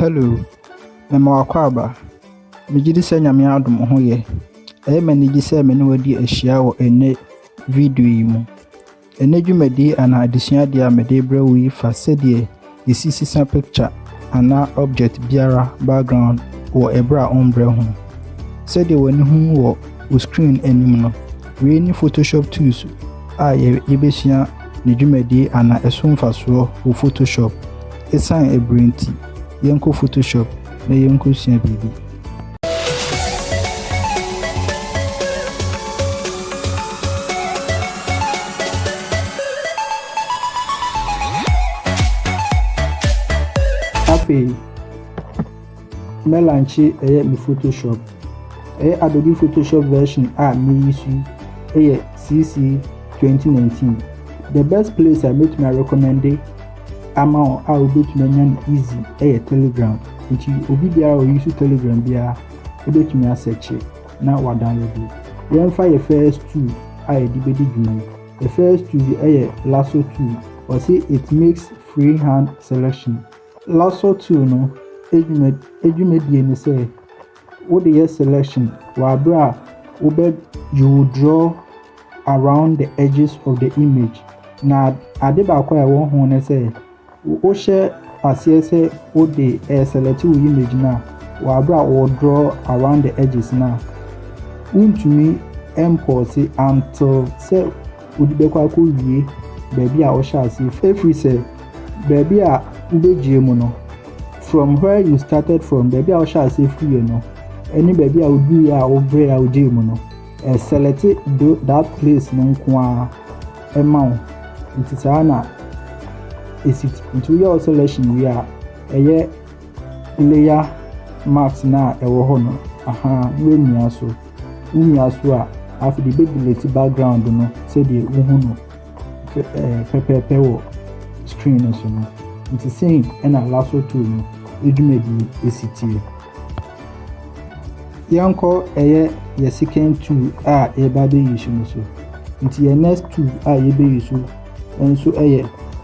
Hello, mema wo akwaaba. Megye di sɛ Nyame adom wo ho yɛ. Ɛyɛ me anigye sɛ me ne wo adi ahyia wɔ ɛnnɛ video yi mu. Ɛnnɛ dwumadi anaa adesuadeɛ a mede rebrɛ wo yi fa sɛdeɛ yɛsi sesa picture anaa object biara background wɔ ɛberɛ a wombrɛ ho. Sɛdeɛ w'ani hu wɔ wo screen anim no, wei ne Photoshop tools a yɛbɛsua ne dwumadi anaa ɛso mfasoɔ wɔ Photoshop. Esiane ɛberɛ nti, yɛnkɔ photoshop na yɛnkɔ sua biribi. Afei. Me lankye ɛyɛ me photoshop ɛyɛ adobe photoshop version a me use yi ɛyɛ cc 2019 the best place a mɛtumi arecommende ama wɔn a wobɛtumi anya no easy ɛyɛ telegram nti obi biara ɔyi so telegram biara ɛbɛtumi asɛkye na wadownload yi yɛmfa yɛ first two a yɛde bɛdi dwuma yi the first two yi ɛyɛ lasso two ɔse it makes freehand selection LASSO two no edwuma edwumadie ne sɛ wode yɛ selection wɔ abere a wobɛ you will draw around the edges of the image na ade baako a ɛwɔ ho ne sɛ wohyɛ aseɛ sɛ wode ɛɛ select wo image no a wɔ abere a wɔ draw around the edges no a wontumi ɛmpɔɔse until sɛ wode bɛkɔ akɔwie baabi a wohyɛ aseɛ firi. Ɛfiri sɛ baabi a wobɛgyee mu no, from where you started from, baabi a wohyɛ aseɛ firiɛ no, ɛne baabi a woduruiɛ a wobrɛ a wogyee mu no, ɛselɛte do that place no nko ara ɛma wo. Nti saa na ɛsi ti. Nti woyɛ wo selection wie a, ɛyɛ layer marks no a ɛwɔ hɔ no, aha, na woamia so. wo nua so a, afei de bɛdelete background no sɛdeɛ wohu no pɛpɛɛpɛ wɔ screen no so no. Nti sei na lasso tool no dwumadie ɛsi tie. Yɛnkɔ ɛyɛ yɛ second tool a yɛba bɛyi so no so. Nti yɛ next tool a yɛbɛyi so nso ɛyɛ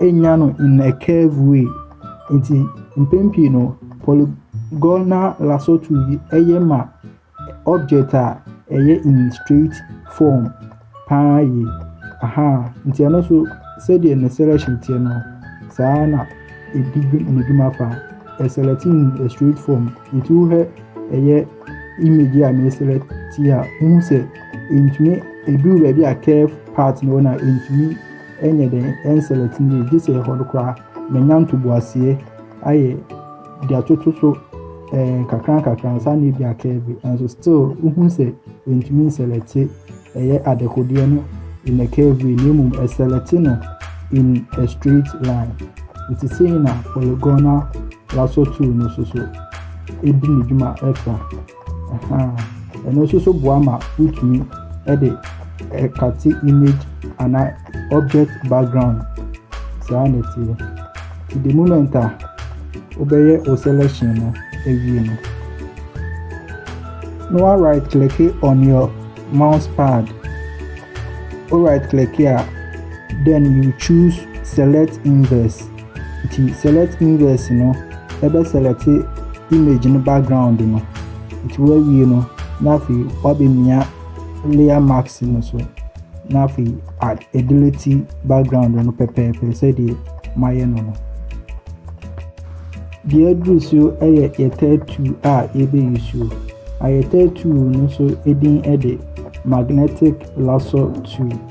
nya no in a curve way. Nti mpɛn pii no polygonal lasso tool yi ɛyɛ ma object a ɛyɛ in straight form paa yie. Aha nti ɛno nso sɛdeɛ ne selection teɛ no saa na ɛdi ne dwuma fa ɛselect in a straight form nti wohwɛ ɛyɛ image a ne select a wohu sɛ ɛntumi ɛduru baabi a curve part no wɔ no a ɛntumi Ɛnyɛ dɛ ɛnselect me yie gyesɛ ɛhɔ no koraa menya ntoboaseɛ ayɛ de atoto so ɛɛ eh, kakra nkakra ansa na ebi aka bi nanso still wohu sɛ ɛntumi nselect ɛyɛ adekodeɛ no in a curve way na mmom ɛselect no in a straight line nti sei na polygonal lasso tool no so so ɛdi ne dwuma ɛfa Ɛno nso so boa ma wotumi de kate image anaa object background. Saa na ɛteɛ. Nti the moment a wobɛyɛ wo selection no awie no, na wa right click on your mouse pad. Wo right click a, then you choose select inverse. Nti select inverse no ɛbɛ select image no background no. Nti wawie no na afei wabɛmia layer mask no so na afei adelete background no pɛpɛɛpɛ sɛdeɛ mayɛ no no. Deɛ aduru so yɛ yɛ tattoo a yɛbɛyi so. A yɛ tattoo no nso din de magnetic lasso tool.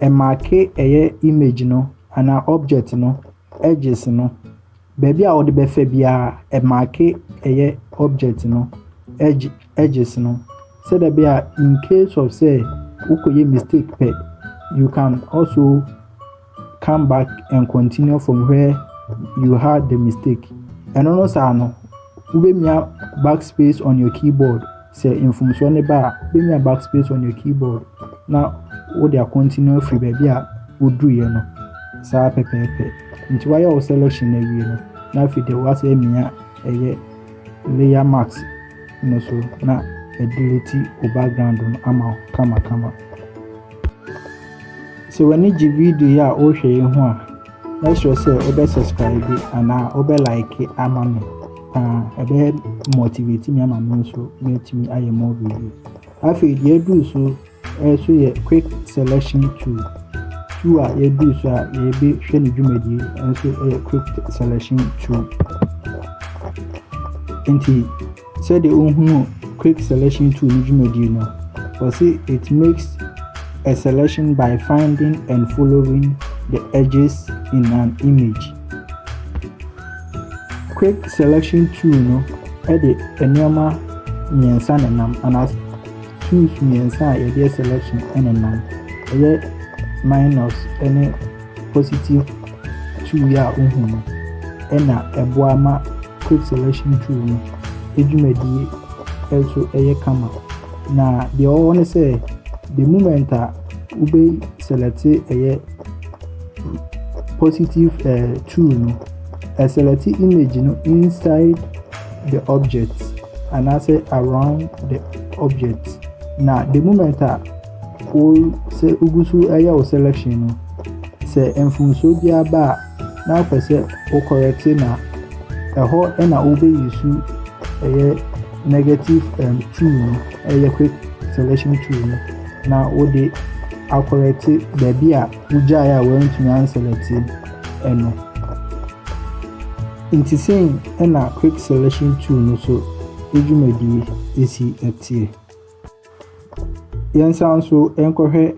Ɛmaake ɛyɛ image no anaa object no edges no. Baabi a wode bɛfa biara ɛmaake ɛyɛ object no edge edges no. Sɛdeɛ ɛbɛyɛ a in case of sɛ wokɔyɛ mistake pɛ you can also come back and continue from where you had the mistake. Ɛno no saa no wobɛmia backspace on your keyboard. Sɛ mfomsoɔ no ba a, wobɛnya back space on your keyboard na wode a continue afiri baabi a woduruiɛ no saa pɛpɛɛpɛ. Nti woayɛ wo selection no awie no, na afei deɛ woasɛ amia ɛyɛ layer mask no so na adelete wo background no ama wo kamakama. Sɛ w'ani gye video yi a wohwɛ yi ho a, Mɛsrɛ sɛ wobɛ subscribe anaa wobɛ like ama me paa ɛbɛyɛ motivate me ama me nso mɛtumi ayɛ more video afei deɛ aduru so ɛso yɛ quick selection tool tool a yɛduru so a yɛbɛhwɛ ne dwumadie ɛnso ɛyɛ quick selection tool nti Sɛdeɛ wohunu quick selection tool no dwumadie no, wɔse it makes a selection by finding and following the edges in an image. Quick selection tool no de nneɛma mmiɛnsa na nam anaa tools mmiɛnsa a yɛde yɛ selection na nam. Ɛyɛ minus ne positive tool yi a wohu no na ɛboa ma quick selection tool no dwumadie nso yɛ kama. Na deɛ ɛwɔ hɔ ne sɛ the moment a wobɛ select ɛyɛ positive uh, tool no select image no inside the object anaasɛ around the object na the moment a Wo sɛ wogu so reyɛ wo selection no, sɛ mfomsoɔ biara ba a, na wopɛ sɛ wo correct no a, ɛhɔ na wobɛ use ɛyɛ negative um, tool no, ɛyɛ quick selection tool no, na wode akɔrɛte baabi a wogyae a wɔantumi anselɛte ɛno. Nti sɛn ɛna quick selection tool no so dwumadie ɛsi ɛteɛ. Yɛnsan nso nkɔhwɛ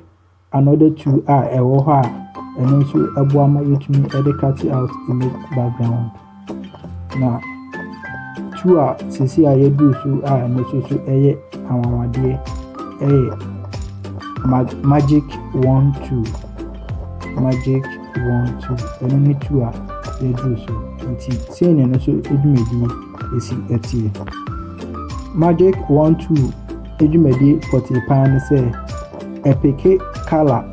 another two a ɛwɔ hɔ a ɛno nso boa ma yɛtumi de catch out image background. Na two a seesei a yɛadu so a ɛno nso so yɛ anwanwadeɛ yɛ mag magic one two magic one two ɛno ne two a yɛadu so nti sei na ɛno nso dwumadie. ɛsi atie. Magic One Two dwumadie pɔtee paa ne sɛ ɛpeke color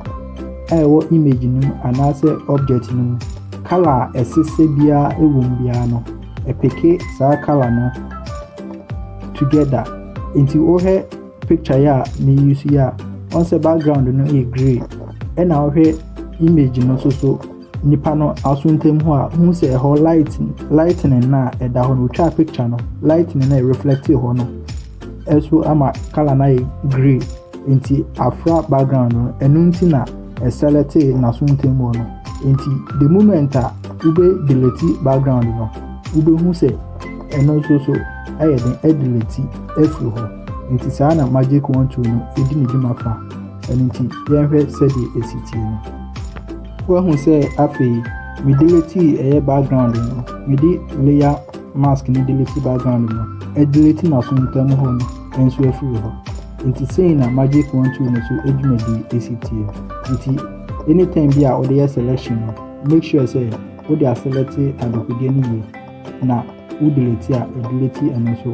a ɛwɔ image no mu anaasɛ object no mu. Color a ɛsesɛ biara ɛwɔ mu biara no, ɛpeke saa color no together. Nti wohwɛ picture yi a meyi so yi a, wɔn sɛ background no yɛ grey ɛna wohwɛ image no nso so Nipa no aso ntam hɔ a, hu sɛ ɛhɔ light lightning no a ɛda hɔ no, otwa picture no, lightning no a reflect hɔ no, ɛso ama color no ayɛ grey. Nti afra background no, ɛno nti na ɛselect n'aso ntam hɔ no. Nti the moment a wobɛ delete background no, wobɛhu sɛ ɛno nso so ɛyɛ den ɛdelete afiri hɔ. Nti saa na magic one two no ɛdi ne dwuma fa. Ɛno nti yɛnhwɛ sɛdeɛ ɛsi tie no. Woahu sɛ afei me delete ɛyɛ background no me de layer mask no delete background no ɛdelete na so ntam hɔ no nso afiri hɔ nti sei na magic one tool no so adwumadi esi tie nti anytime bi a wode yɛ selection no make sure sɛ wode aselect adɔkodeɛ no yie na wo delete a ɛdelete ɛno nso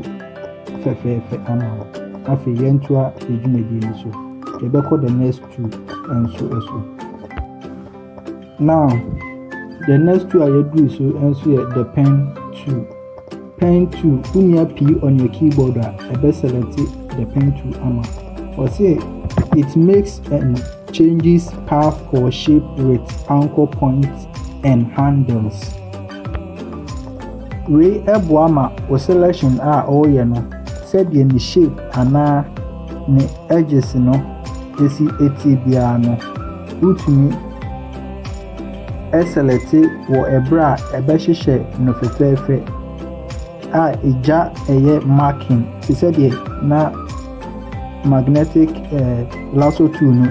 fɛfɛɛfɛ ama wo afei yɛntoa adwumadi no so yɛbɛkɔ the next two nso so. Now, the next two a yɛduru so nso yɛ the pen two. Pen two, wonua pii on your keyboard a, ɛbɛ select the pen two ama. Ɔse, it makes and changes path or shape with anchor points and handles. Wei ɛboa ma o selection a ɔreyɛ no sɛdeɛ ne shape anaa ne edges no esi etie biara no, wotumi selɛte wɔ ɛberɛ a ɛbɛhyehyɛ no fɛfɛɛfɛ a egya ɛyɛ marking te sɛ deɛ na magnetic ɛɛ lasso tool no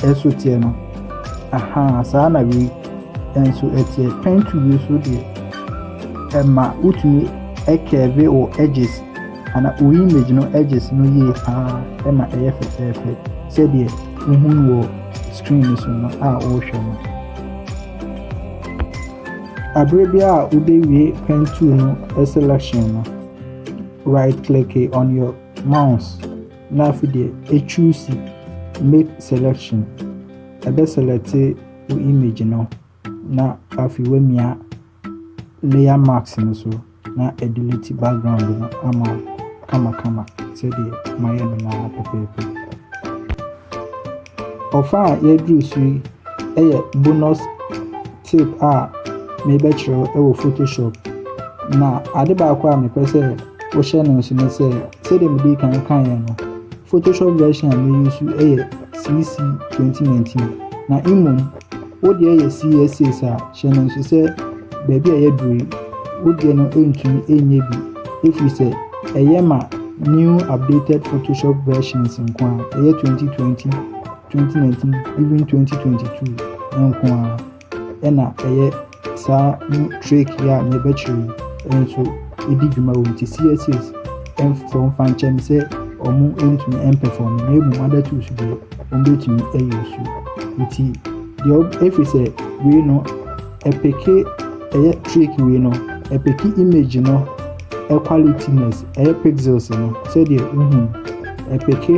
ɛso teɛ no. Ahaa, saa na wei nso teɛ. Pen tool yi nso deɛ, ɛma wotumi curve wo edges Ana wo image no edges no yie paa ɛma ɛyɛ fɛfɛɛfɛ sɛdeɛ wohu no wɔ screen no so no a wohwɛ no. Abere biara a wobɛwie pen tool no selection no, right click on your mouse na afei deɛ choose make selection. Ɛbɛ select wo image no na afei woamia layer mask no so na adelete background no ama ayɛ kamakama sɛdeɛ mayɛ no no ara pɛpɛɛpɛ. Ɔfa a yɛaduru so yi yɛ bonus tip a mebɛkyerɛ wɔ Photoshop. Na ade baako a mepɛ sɛ wohyɛ no nso ne sɛ sɛdeɛ mede kan kaeɛ no Photoshop version a meyi so yɛ CC 2019 na mmom Wo deɛ yɛ CSA saa, hyɛ no nso sɛ baabi a yɛaduru yi, wo deɛ no ntumi nyɛ bi ɛfiri sɛ ɛyɛ ma new updated Photoshop versions nko a, ɛyɛ 2020, 2019, even 2022 nko a ɛna ɛyɛ saa new trick yi a yɛbɛkyerɛ yi nso ɛdi dwuma wɔ nti CSS ɛmfɔ mfa nkyɛn sɛ wɔn ntumi ɛmpɛfɔm na mmom other tools deɛ wɔbɛtumi ayi wo so nti deɛ ɛfiri sɛ wei no ɛpeke ɛyɛ trick wei no ɛpeke image no ɛqualityness ɛyɛ pixels no sɛdeɛ wohu ɛpeke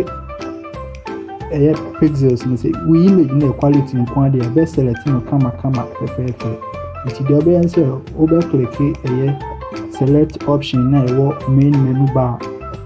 ɛyɛ pixels no sɛ wo image no yɛ quality nko adeɛ ɛbɛselect no kamakama fɛfɛɛfɛ nti deɛ ɔbɛyɛ sɛ wobɛkleke ɛyɛ select option na ɛwɔ main menu bar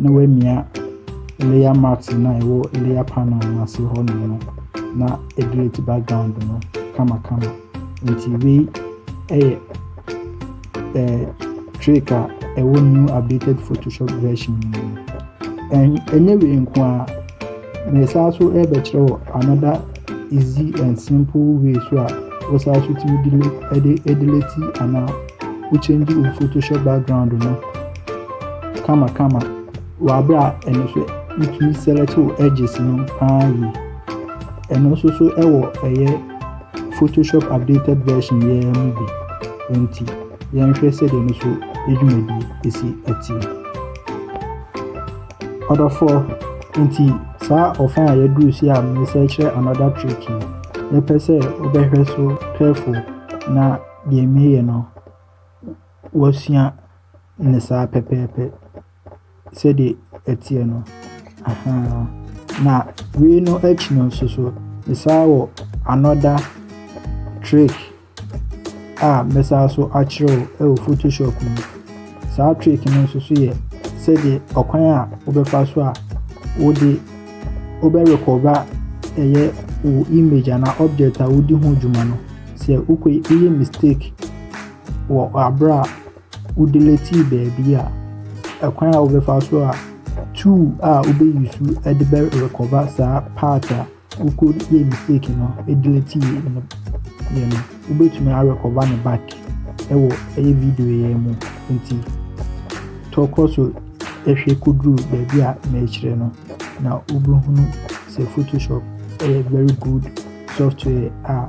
na woamia layer mat no a ɛwɔ layer panel no ase hɔ no no na delete background no kamakama nti wei ɛyɛ ɛɛ trick a ɛwɔ new updated photoshop version no mu ɛnyɛ wei nko a na ɛsan so ɛbɛkyerɛ wɔ another easy and simple way so a wosan so tumi delete ɛde delete anaa wo change wo photoshop background no kamakama wɔ abere a ɛno nso wotumi select wo edges no paa yie ɛno nso so ɛwɔ ɛyɛ photoshop updated version yɛn mu bi nti yɛnhwɛ sɛdeɛ no so edwumadi esi ɛte ɔdɔfoɔ nti saa ɔfa a yɛduru si a mesɛ kyerɛ another trick yi yɛpɛ sɛ wobɛhwɛ so careful na Deɛ meyɛ no, wasua ne saa pɛpɛɛpɛ sɛdeɛ ɛteɛ no. Ahaa. Na wei no akyi no nso so, mesan wɔ another trick a mɛsan so akyerɛ wo wɔ Photoshop mu. Saa trick no nso so yɛ sɛdeɛ ɔkwan a wobɛfa so a wode wobɛ recorda ɛyɛ wo image anaa object a wodi ho dwuma no sɛ wokɔ woyɛ mistake wɔ abere a wodelete baabi a ɛkwan a wobɛfa so a tool a wobɛyi so de bɛ recorda saa part a Wokɔ yɛ mistake no delete yɛ no yɛ no wobɛtumi arekɔba ne back ɛwɔ ɛyɛ video yɛ mu nti tɔkɔ so ɛhwɛ kɔduru baabi a merekyerɛ no na wobɛhunu sɛ photoshop ɛyɛ very good software a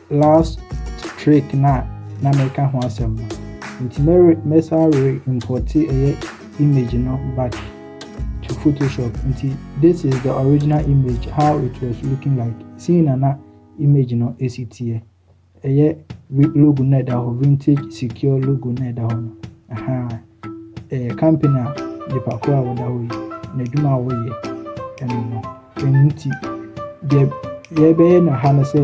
Last trick no a na meka ho asɛm no. Nti mɛre mɛsa re importe ɛyɛ image no back to Photoshop. Nti this is the original image how it was looking like. Seeing na na image no esi teɛ. Ɛyɛ logo na ɛda hɔ vintage secure logo na ɛda hɔ no. Aha. eh, company a nipa koro a wɔda hɔ yi n'adwuma a wɔyɛ ɛno no ɛno nti deɛ yɛbɛyɛ no ha no sɛ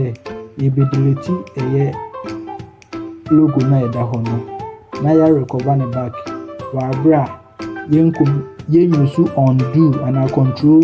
yɛbɛdeleti ɛyɛ logo no a ɛda hɔ no na yɛarekɔba ne back wɔaberɛ a yɛnkom yɛnyusu undo anaa control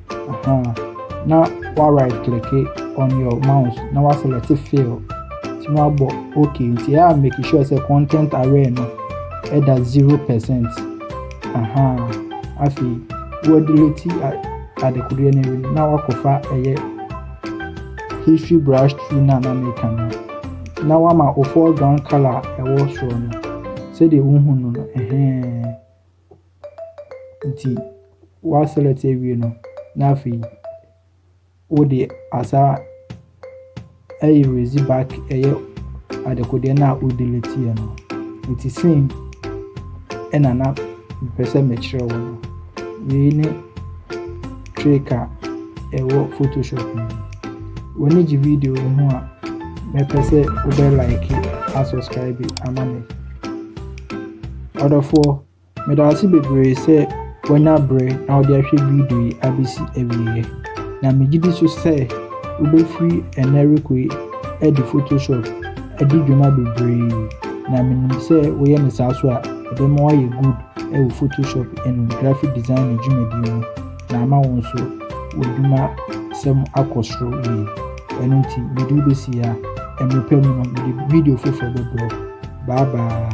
Aha, na wa right click on your mouse na wa select fill nti na wabɔ okay nti a make sure sɛ content aware no ɛda zero percent aha afei wɔdelete adekodeɛ no awie na wakɔfa ɛyɛ history brush tool no a na meka no na wama wo foreground color a ɛwɔ soro no sɛdeɛ wohu no no ɛhɛn Nti woaselɛte awie no, na afei wode asa aerase back ɛyɛ adekodeɛ no a wodeleteeɛ no. Nti sei ɛna na mepɛ sɛ mekyerɛ wo no. Wei ne. Trick a ɛwɔ Photoshop mu. W'ani gye video yi ho a, mɛpɛ sɛ wobɛ like a subscribe ama me. Ɔdɔfoɔ, meda ase bebree sɛ wanya berɛ na wode ahwɛ video yi abɛsi awieɛ. Na megye di so sɛ wobɛfiri ɛnɛ rekɔ yi adi Photoshop adi dwuma bebree na menim sɛ woyɛ ne saa so a ɛbɛma woayɛ good wɔ Photoshop ne Graphic Design dwumadie mu na ama wɔn nso wɔadwuma sɛm akɔ soro yie. Ɛno nti mede wobɛsi ha, mmerɛ pa mu no mede video foforɔ bɛbrɛ. Bye bye.